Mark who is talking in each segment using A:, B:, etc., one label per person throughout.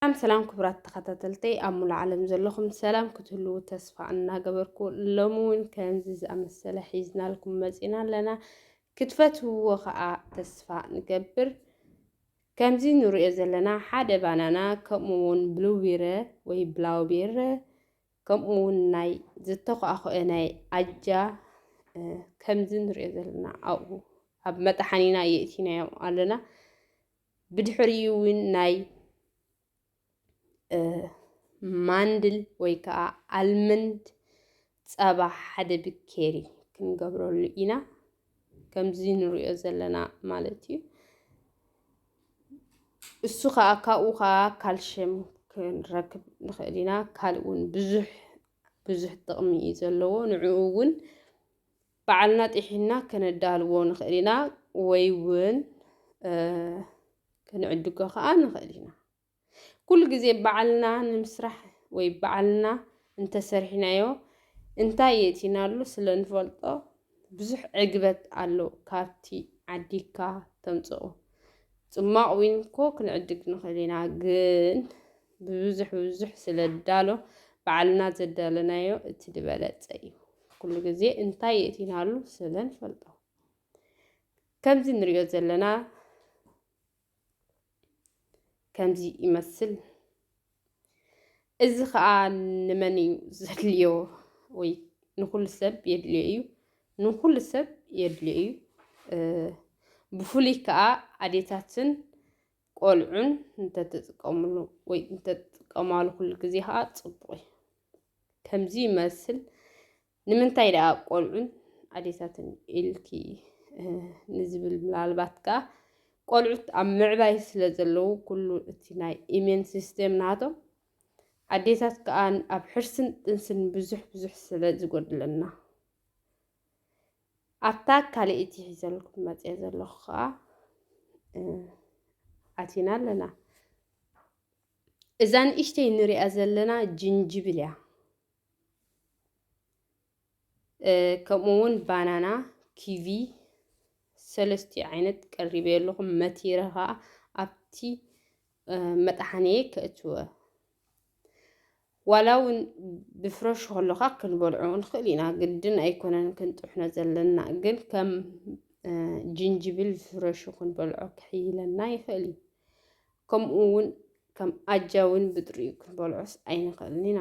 A: ሰላም ሰላም ክብራት ተኸታተልቲ ኣብ ሙሉ ዓለም ዘለኹም ሰላም ክትህልው ተስፋ እናገበርኩ ሎሚ እውን ከምዚ ዝኣመሰለ ሒዝናልኩም መፂና ኣለና ክትፈትውዎ ከዓ ተስፋ ንገብር ከምዚ ንርእዮ ዘለና ሓደ ባናና ከምኡ ውን ብሉዊረ ወይ ብላውቤረ ከምኡ ውን ናይ ዝተኳኣኾኤ ናይ ኣጃ ከምዚ ንርእዮ ዘለና ኣብኡ ኣብ መጥሓኒና የእቲናዮ ኣለና ብድሕሪኡ ውን ናይ ማንድል ወይ ከዓ ኣልመንድ ፀባ ሓደ ብኬሪ ክንገብረሉ ኢና ከምዚ ንሪኦ ዘለና ማለት እዩ እሱ ከዓ ካብኡ ከዓ ካልሽየም ክንረክብ ንኽእል ኢና ካልእ እውን ብዙሕ ብዙሕ ጥቕሚ እዩ ዘለዎ ንዕኡ እውን በዓልና ጢሒና ከነዳልዎ ንኽእል ኢና ወይ እውን ክንዕድጎ ከኣ ንኽእል ኢና። ኩሉ ግዜ ባዕልና ንምስራሕ ወይ ባዕልና እንተሰሪሕናዮ እንታይ የእቲናሉ ስለ ንፈልጦ ብዙሕ ዕግበት ኣሎ ካብቲ ዓዲግካ ተምጽኦ። ጽማቕ ዊን እኮ ክንዕድግ ንኽእል ኢና ግን ብብዙሕ ብብዙሕ ስለ ንዳሎ ባዕልና ዘዳለናዮ እቲ ዝበለጸ እዩ። ኩሉ ግዜ እንታይ የእቲናሉ ስለ ንፈልጦ። ከምዚ ንሪኦ ዘለና ከምዚ ይመስል። እዚ ከዓ ንመን እዩ ዘድልዮ? ወይ ንኩሉ ሰብ የድልዮ እዩ። ንኩሉ ሰብ የድልዮ እዩ። ብፍሉይ ከዓ ኣዴታትን ቆልዑን እንተትጥቀምሉ ወይ እንተትጥቀማሉ ኩሉ ግዜ ከዓ ፅቡቅ እዩ። ከምዚ ይመስል ንምንታይ ደኣ ቆልዑን ኣዴታትን ኢልኪ ንዝብል ምናልባት ከኣ ቆልዑት ኣብ ምዕባይ ስለ ዘለዉ ኩሉ እቲ ናይ ኢሜን ሲስቴም ናቶም ኣዴታት ከኣ ኣብ ሕርስን ጥንስን ብዙሕ ብዙሕ ስለ ዝጎድለና ኣብታ ካልእቲ ሒዘልኩም መፅኦ ዘለኹ ከዓ ኣቲና ኣለና እዛ ንእሽተይ ንሪኣ ዘለና ጅንጅብል እያ ከምኡ እውን ባናና ኪቪ ሰለስቲ ዓይነት ቀሪበ ኣለኹም መቲረ ከዓ ኣብቲ መጥሓንየ ከእትወ ዋላ እውን ብፍረሹ ከለካ ክንበልዑ ንኽእል ኢና ግድን ኣይኮነን ክንጥሕኖ ዘለና ግን ከም ጅንጅብል ፍረሹ ክንበልዖ ክሕይለና ይኽእል እዩ ከምኡ እውን ከም ኣጃ እውን ብጥሪኡ ክንበልዖስ ኣይንኽእልን ኢና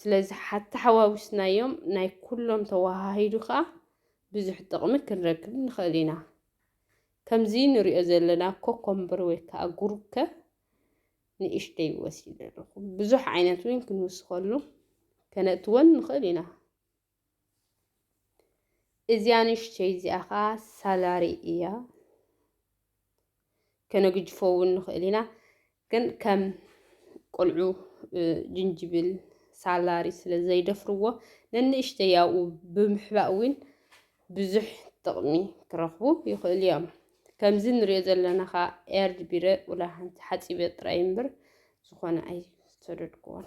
A: ስለዚ ሓተሓዋዊስናዮም ናይ ኩሎም ተወሃሂዱ ከዓ ብዙሕ ጥቕሚ ክንረክብ ንኽእል ኢና ከምዚ ንሪኦ ዘለና ኮኮምበር ወይ ከዓ ጉርከ ንእሽተይ ወሲደ ኣለኹ ብዙሕ ዓይነት እውን ክንውስኸሉ ከነእትወን ንኽእል ኢና እዚኣ ንእሽተይ እዚኣ ከዓ ሳላሪ እያ። ከነግጅፎ እውን ንኽእል ኢና፣ ግን ከም ቆልዑ ጅንጅብል ሳላሪ ስለ ዘይደፍርዎ ነንእሽተይ ኣብኡ ብምሕባእ እውን ብዙሕ ጥቕሚ ክረኽቡ ይኽእሉ እዮም። ከምዚ ንሪኦ ዘለና ከዓ ኤርድ ቢረ ውላ ሓንቲ ሓፂበ ጥራይ እምበር ዝኾነ ኣይሰደድኩዎን።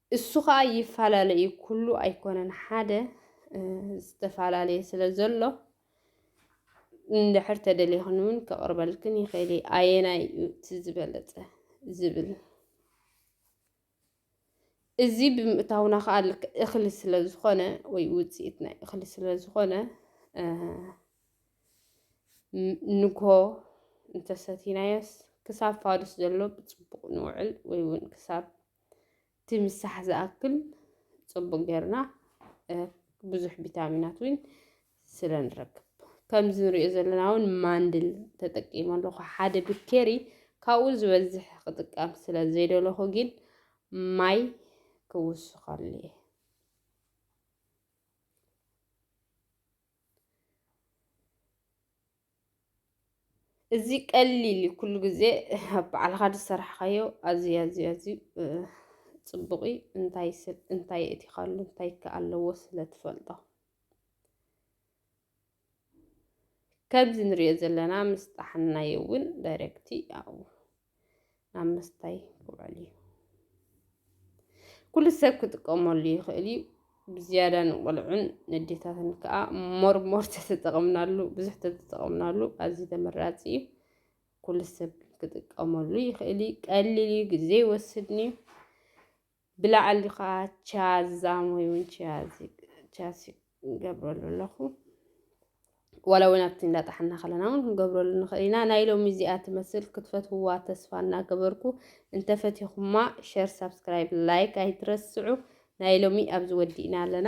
A: እሱ ከኣ ይፈላለ እዩ ኩሉ ኣይኮነን ሓደ ዝተፈላለየ ስለ ዘሎ እንድሕር ተደሊኽን እውን ከቕርበልክን ይኽእል እየ ኣየናይ እዩ እቲ ዝበለጸ ዝብል እዚ ብምእታውና ከዓ ልክ እኽሊ ስለ ዝኾነ ወይ ውፅኢት ናይ እኽሊ ስለ ዝኾነ ንግሆ እንተሰቲናዮስ ክሳብ ፋዱስ ዘሎ ብፅቡቕ ንውዕል ወይ እውን ክሳብ እቲ ምሳሕ ዝኣክል ፅቡቅ ጌርና ብዙሕ ቪታሚናት እውን ስለ ንረክብ ከምዚ ንሪኦ ዘለና እውን ማንድል ተጠቂመ ኣለኹ ሓደ ብኬሪ ካብኡ ዝበዝሕ ክጥቀም ስለ ዘይደለኹ ግን ማይ ክውስኸሉ እየ እዚ ቀሊል እዩ ኩሉ ግዜ ባዕልኻ ዝሰራሕኻዮ ኣዝዩ ኣዝዩ ኣዝዩ ፅቡቕ እዩ እንታይ ስብ እንታይ የእቲኻሉ እንታይ ከ ኣለዎ ስለ ትፈልጦ ከምዚ ንሪኦ ዘለና ምስ ጣሓናዮ እውን ዳይሬክቲ ያው ናብ ምስታይ ክውዕል እዩ ኩሉ ሰብ ክጥቀመሉ ይኽእል እዩ ብዝያዳ ንቆልዑን ንዴታትን ከዓ ሞርሞር ተተጠቕምናሉ ብዙሕ ተተጠቕምናሉ ኣዝዩ ተመራፂ እዩ ኩሉ ሰብ ክጥቀመሉ ይኽእል እዩ ቀሊል እዩ ግዜ ይወስድን እዩ ብላዕሊ ከዓ ቻዝ ዛሞይ እውን ቻዝ ቻዝ ይገብረሉ ኣለኹ ዋላ እውን ኣብቲ እንዳጣሓና ከለና እውን ክንገብረሉ ንኽእል ኢና ናይ ሎሚ እዚኣ ትመስል ክትፈትውዋ ተስፋ እናገበርኩ እንተፈቲኹማ ሸር ሳብስክራይብ ላይክ ኣይትረስዑ ናይ ሎሚ ኣብዚ ወዲእና ኣለና